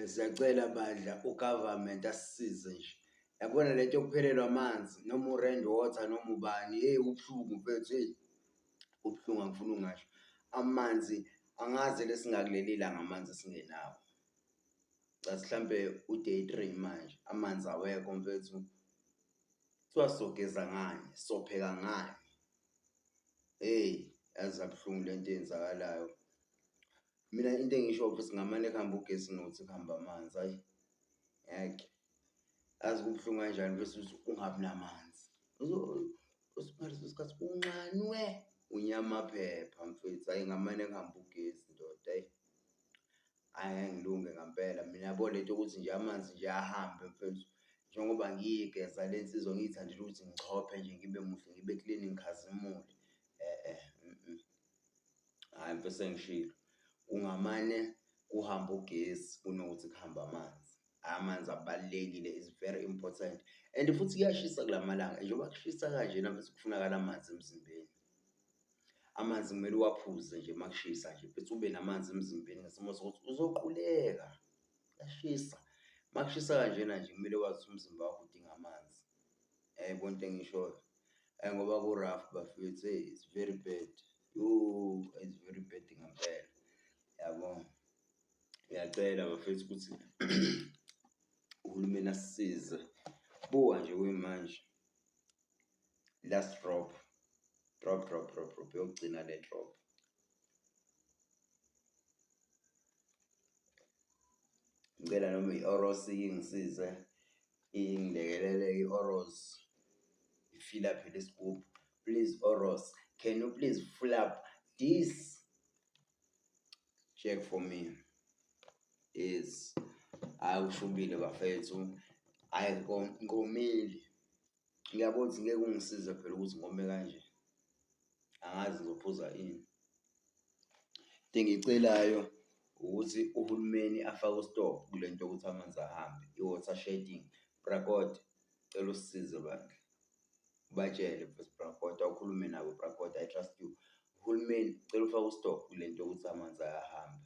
Siyacela bandla u-government asisize nje, yabona le nto yokuphelelwa amanzi noma u-rand water noma ubani hheyi kubuhlungu mfethu hheyi kubuhlungu angifuni ungasho. Amanzi angazi le singakuleli langa amanzi esingenawo. Cathi hlampe u-day three manje amanzi awekho mfethu, kuthiwa sogeza ngani, sopheka ngani? Hheyi yaze yabuhlungu le nto eyenzakalayo. Mina into engisho ukuthi ngamane kuhamba ugesi nothi kuhamba amanzi ayi ngeke azi kubuhlungu kanjani bese ungabi namanzi usiphariso isikhathi unxanwe unyamaphepha mfethu ayi ngamane kuhamba ugesi ndoda ayi ayi ngilunge ngampela mina yabo lento ukuthi nje amanzi nje ahambe mfethu njengoba ngiyigeza le nsizwa ngiyithandela ukuthi ngichophe nje ngibe muhle ngibe clean ngikhazimule eh eh mm, mm. hhayi mfethu sengishilo kungamane kuhambe ugesi kunokuthi kuhambe amanzi amanzi abalulekile is very important and futhi kuyashisa kula malanga njengoba kushisa kanjena bese kufunakala amanzi emzimbeni amanzi kumele uwaphuze nje uma kushisa nje bese ube namanzi emzimbeni ngesimo sokuthi uzoquleka kuyashisa uma kushisa kanjena nje kumele wazi ukuthi umzimba wakho udinga amanzi Yaybo into engiyishoyo ayi ngoba ku rough bafethu hey it's very bad yooh it's very bad ngempela yabo. Ngiyacela bafethu ukuthi uhulumeni asisize buka nje kuyimanje last drop drop drop drop drop yokugcina le drop. Ngicela noma i-Orosi ingisize Ingilekelele i-Oros ifila phela isigubhu. Please Oros, can you please full up this check for me? Yes. Hayi ushubile bafethu. Hayi nkomile. Ngiyabona ukuthi ngeke ungisize phela ukuthi ngome kanje. Angazi ngizophuza ini. Into engiyicelayo ukuthi uhulumeni afake u-stop kule nto yokuthi amanzi ahambe, i-water shedding. Brakot, cela usisize bandla. Ubatshele mfwethu Brakot, awukhulume nabo Brakot, I trust you. Uhulumeni cela ufake u-stop kule nto yokuthi amanzi ayahambe.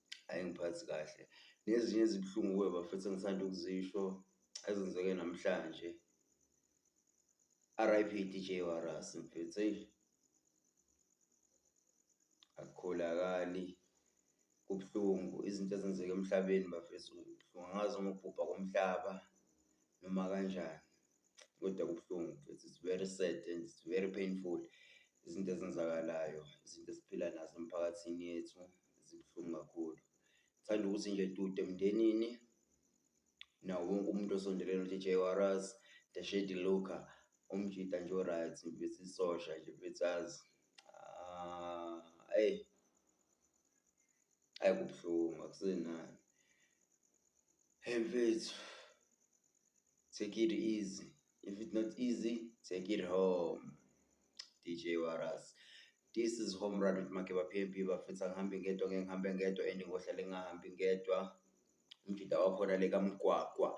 ayingiphathi kahle. Nezinye ezibuhlungu kuwe bafethu engisanda ukuzisho ezenzeke namhlanje. RIP DJ Waras mfethu eyi akukholakali kubuhlungu izinto ezenzeka emhlabeni bafethu kubuhlungu angazi noma ukubhubha komhlaba noma kanjani. kodwa kubuhlungu nje it's very sad and it's very painful izinto ezenzakalayo, izinto esiphila nazo emphakathini yethu zibuhlungu kakhulu. Ngithanda ukuthi nje dude emndenini nawo wonke umuntu osondelene uJJ Warras, the Shady Luca, umjita nje o-right mfethu isosha nje mfethu azi. Ah, eyi. Ayi kubuhlungu akusenani. Hey mfethu take it easy if it's not easy take it home. DJ Waras. This is Home Run with Makeba PMP bafethu angihambi ngedwa ngeke ngihambe ngedwa and ngohlale ngingahambi ngedwa. Umjita wakhona le kaMgwagwa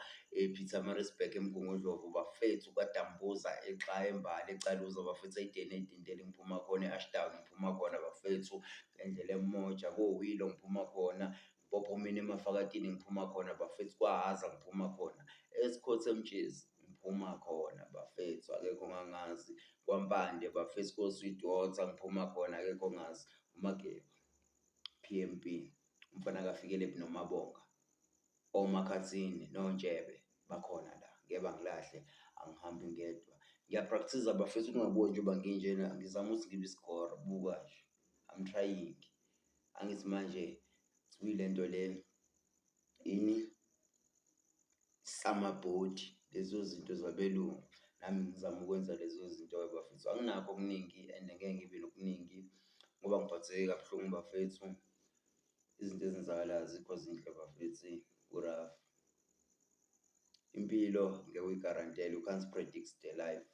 ePietermaritzburg eMgungundlovu bafethu kaDambuza exa eMbali eCaluza bafethu eYideni eDintela ngiphuma khona eAshdown ngiphuma khona bafethu ngendlela eMoja koWilo ngiphuma khona Mpophomeni eMafakatini ngiphuma khona bafethu kwaHhaza ngiphuma khona eSkhotha eMtshezi ngiphuma khona bafethu akekho ongangazi kwaMpande bafethu koSweetwater ngiphuma khona akekho ongazi uMageba. PMP, umfana kaFikelephi noMabonga, oMakhathini noNtshebe bakhona la. Ngeke bangilahle, angihambi ngedwa. Ngiyaprakthiza bafethu ningaboni njengoba nginjena, ngizama ukuthi ngibe isigora, buka nje. I'm trying. Angithi manje sibuyile into le ini summer body lezo zinto zabelungu nami ngizama ukwenza lezo zinto bafethu. Anginakho okuningi and ngeke ngibe nokuningi ngoba ngiphatheke kabuhlungu bafethu. Izinto ezenzakalayo azikho zinhle bafethu eyi ku-rough. Impilo ngeke uyigarantele, you can't predict the life.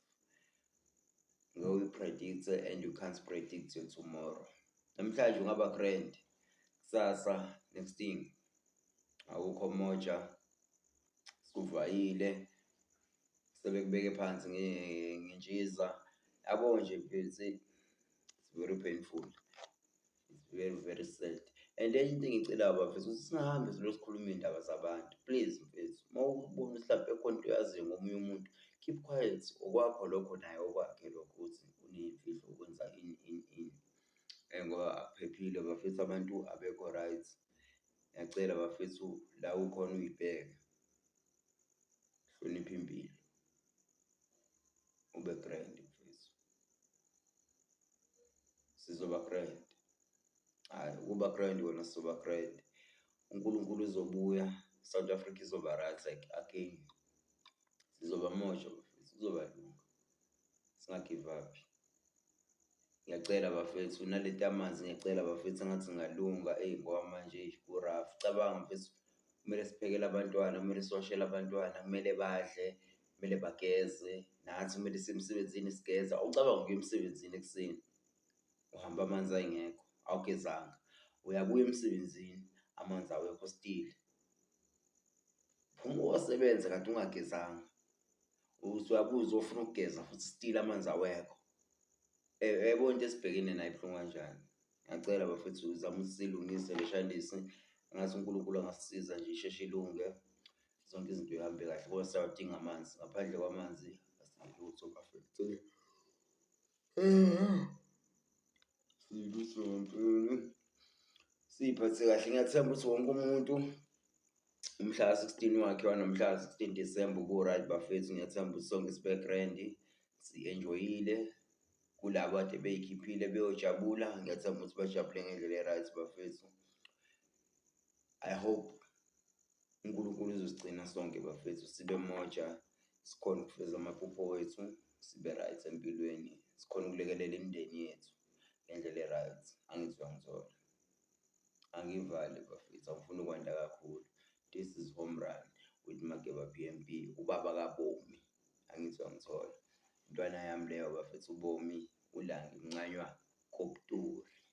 ngeke uyi-predict-e and you can't predict your tomorrow. Namhlanje ungaba grand, kusasa next thing awukho moja, sikuvayile sebekubeke phansi ngentshiza yabo nje it's very painful. It's very very sad and enye into engicelayo bafethu ukuthi singahambe silo sikhuluma iy'ndaba zabantu please mfethu uma ubona ukuthi hlampe khona into oyaziyo ngomunye umuntu keep quiet okwakho lokho naye okwakhe lokho ukuthi uney'mfihlo ukwenza ini ini ini um ngoba akuphephile bafethu abantu abekho right ngiyacela bafethu la ukhona uyibheke hlonipha impilo. ube grand mfethu sizoba grand hayi ukuba grand wena sizoba grand uNkulunkulu uzobuya South Africa izoba right like again sizoba mojo sizoba lunga singagive up Ngiyacela bafethu nalento yamanzi ngiyacela bafethu engathi ingalunga eyi ngoba manje eyi ku-rough. Cabanga mfethu kumele siphekele abantwana, kumele siwashele abantwana, kumele badle, kumele bageze, nathi kumele siye emsebenzini sigeza. Awucabangi ukuya emsebenzini ekuseni uhambe amanzi engekho awugezanga, uyabuya emsebenzini amanzi awekho still. Phuma uyosebenza kanti ungagezanga. usuyabuza ofuna ukugeza futhi stile amanzi awekho yebo into esibhekene nayo ibuhlungu kanjani ngiyacela bafethu zama usilungise leshandisi ngathi unkulunkulu angasisiza nje isheshe ilunge zonke izinto ihambe kahle kodwa siyawadinga amanzi ngaphandle kwamanzi asilutho bafethu siyiphathe kahle ngiyathemba ukuthi wonke umuntu umhla ka-16 wakhe wanomhla ka-16 December ubu-right bafethu ngiyathemba ukuthi sonke sibe-grand si-enjoyile kulabo ade beyikhiphile beyojabula ngiyathemba ukuthi bajabule ngendlela e-right bafethu i hope uNkulunkulu uzosigcina sonke bafethu sibe moja sikhona ukufeza amaphupho wethu sibe right empilweni sikhona ukulekelela imindeni yethu ngendlela e-right angizwa ngizona angivali bafethu angifuni ukwanda kakhulu this is home run with mageba b m b ubaba kabomi angizwa ngithola intwana yami leyo bafethu ubomi ulange uncanywa kobuturi